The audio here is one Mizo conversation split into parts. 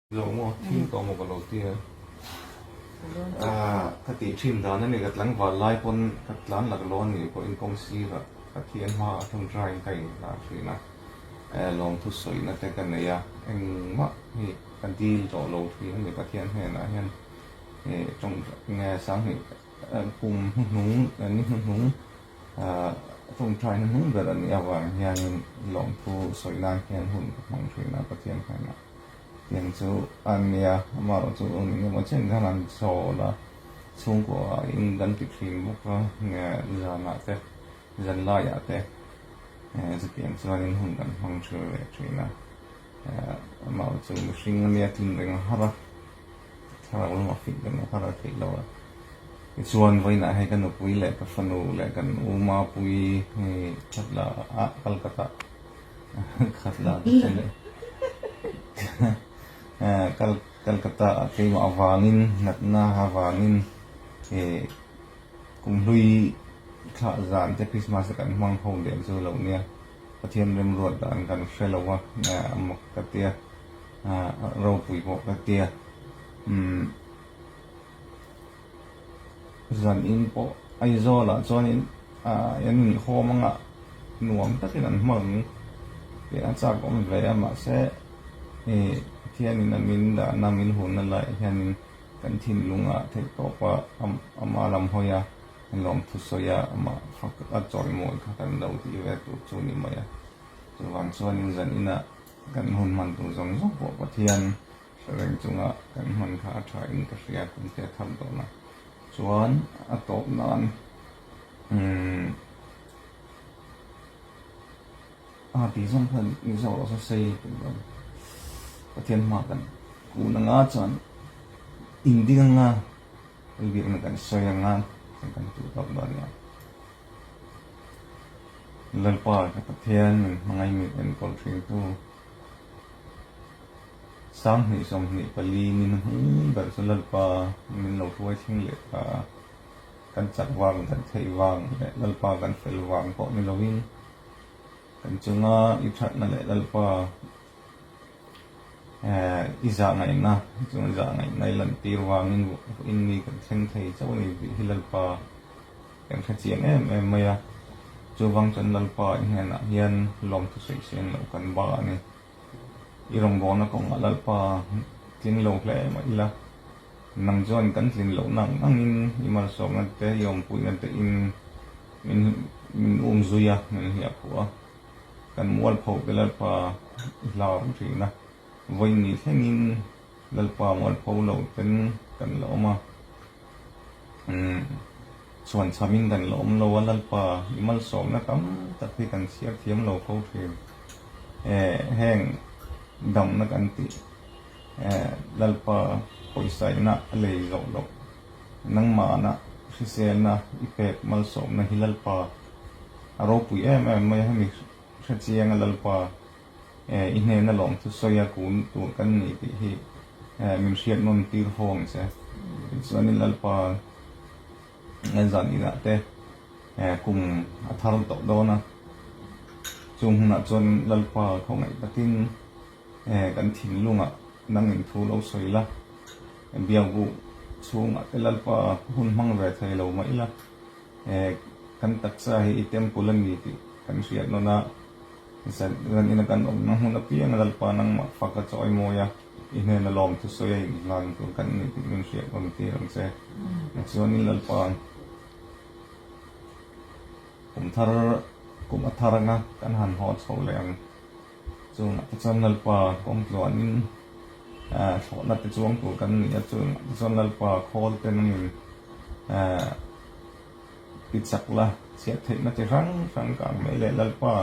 Zawh maw, thil tawh maw ka lo ti a. Ka tih thin dan a ni, ka tlangval lai pawn ka tlan lak lo a nih pawhin kawng sira Pathian hma a thun ṭa in ka inhlan thin a, lawmthu sawihna te ka nei a, engmah hi ka dil tawh lo thin a ni. Pathian hnenah hian he tawng nge sanghnih kum hnuhnung ni hnuhnung thun ṭa in a hnung ber a nih avangin hianin lawmthu sawih nan hian hun ka hmang thin a Pathian hnenah. Heng chu a nia, amaherawh chu engemaw chen hian an chawl a, chhungkua in kan ti thin bawk a, zanah te, zan laiah te, chutiang chuan in hun kan hmang thin leh thin a, amaherawh chu mihring a nia tlin reng har a, thla ro lama fik reng har a theih lo a, tichuan vawiinah hei ka nupui leh ka fanu leh kan uma pui thatlaiah Calcutta. Khat lah te chu leh Calcutta ah keimah avangin natna avangin he kum hlui thlah zan te Christmas a kan hmang ho leh chu lo nia Pathian remruat dan kan hre lo a amak ka tia ropui pawh ka tia umm. Zan in pawh Aizawl ah chuanin i an nih khawm ang a, nuam takin an hmang ang tih a chak awm ve a, mahse i Pathianin a min dahna, a min hunna laiah hianin kan thinlung a theih tawp a, a mah lam hawi a, a nuam thu sawi a, amah a chawimawi kha kan lo tih ve tur chu ni mai a, chuvang chuanin zan inah kan hun hman tur zawng zawng pawh Pathian. Thlareng chunga kan hman kha a tha in ka hria kan ti a that dawn a, chuan a tawp nan umm a tih zawng khan Mizo lo sa sei tum lo a, Pathian hma kan kun a nga chuan in ding a nga kal bik na kan sawi a nga chen kan tu tawp dawn nia. Lalpa leh Pathian min hmangaih mi enkawl thin tu Sanghnih sawmhnih pali min hung darh chu Lalpa min lo hruai thleng leh ta a, kan chak vang, kan theih vang leh Lalpa kan fel vang pawh ni lovin kan chunga i thatna leh Lalpa i zahngaihna chuan zahngaihna i lantîr vangin vawiin mi kan thleng thei chauh a ni tih hi Lalpa. Kan khachiang em em mai a. Chuvang chuan Lalpa i hnenah hian lawmthusawi se an loh kan ba a ni. I rawngbawlna kawngah Lalpa tling lo hle mah ila, nang chuan kan tlin loh nang nangin i malsawmna te, i awmpuina tein min min um zui a, min hliah phuh a. Kan mualpho te Lalpa i hlar thin a, vawi ni thlengin. Lalpa mual pho lo ten kan la awm a, chhuan chham in kan la awm lo a, Lalpa i malsawmna tam tak hi kan chhiar thiam lo fo thin, heng damna kan tih Lalpa pawisaihna a lei zawh loh, nangmahna hriselna i pek malsawmna hi Lalpa a ropui em em mai a, hemi hrechianga Lalpa. I hnena lawm chu sawi a kun tur kan nih tih hi min hriat nawn tir fo ang che. Tichuanin Lalpa en zan inah te kum a thar tawh dawn a. Chung hunah chuan Lalpa khawngaih takin kan thinlungah dangin thu lo sawi la, biabu chhungah te Lalpa hun hmang ve thei lo mai la, kan taksa hi i temple a ni tih kan hriat nawn a. Zan zan ina kan awmna hmun apianga Lalpa nangmah fa ka chawi mawi a, i hnena lawm thusawi a inhlan tur kan ni tih min hriat awm tir ang che. Tichuan i Lalpa ang kum thar kum a thar anga kan han haw chho leh ang. Chungah te chuan Lalpa kawng tluanin thlawhna te chuang tur kan ni a, chungah te chuan Lalpa khawl ten angin. Ti chak la, chhiah theihna chi hrang hrang ka ang mai leh Lalpa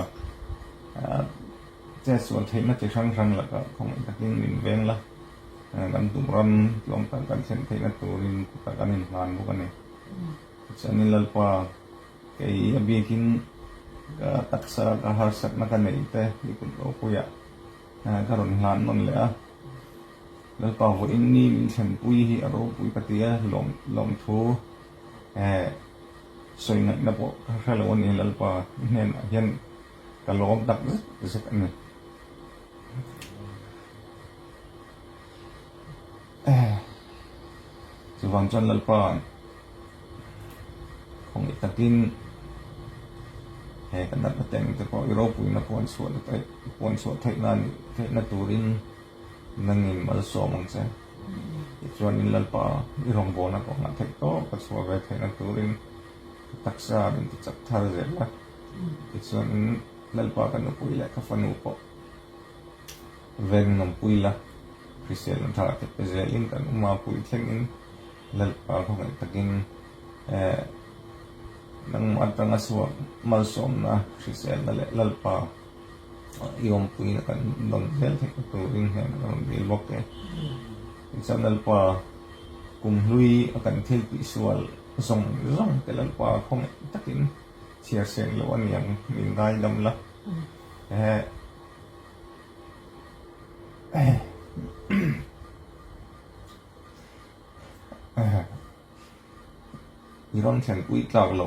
che sual theihna chi hrang hrang lakah khawngawlh takin min veng la. Kan duh ram tluang tak kan thlen theihna turin khawtah kan inhlan bawk a ni. Tichuanin Lalpa, kei a bikin ka taksa ka harsatna ka neih te i kut ropuiah ka rawn hlan nawn leh a. Lalpa vawiin ni min thlenpui hi a ropui ka ti a, lawmthu. Eh, sawi ngaihna pawh ka hre lo a ni, Lalpa i hnenah hian ka lawm tak zet zet a ni. Eh, chuvang chuan Lalpa'n khawngei takin, He ka natna teng te pawh i ropuina puan chhuah theihna turin nan inmalsawm ang che. Tichuan in Lalpa, i rawngbawlna ka hmah theih tawp a chhuah ve theihna turin ka taksa a min ti chap thar zel a. Tichuan in Lalpa ka nupui leh ka fanu pawh veng nawmpui la, Hriselna tha te pe zelin kan awm a, pui thleng in Lalpa khawngaihtha takin eh, nangma atanga chhuah malsawmna, hriselna leh Lalpa I awmpui a kan don zel theih ka tur in heng ka rawn bel bawk e. Tichuan Lalpa kum hlui a kan thil tih sual zawng zawng te Lalpa khawngei takin chhiar seng loh a niang min ngai dam la. I rawn thlen pui tlak lo.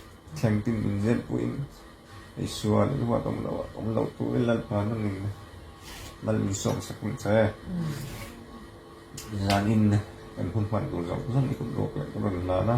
Thleng tin in zet pawh in Isua leh Ruat awm loh awm loh tur i Lalpa nung in mal in sawm sak ning che. Zan in kan hun hman tur zawng zawng i kut luak leh ka rawn hlan a.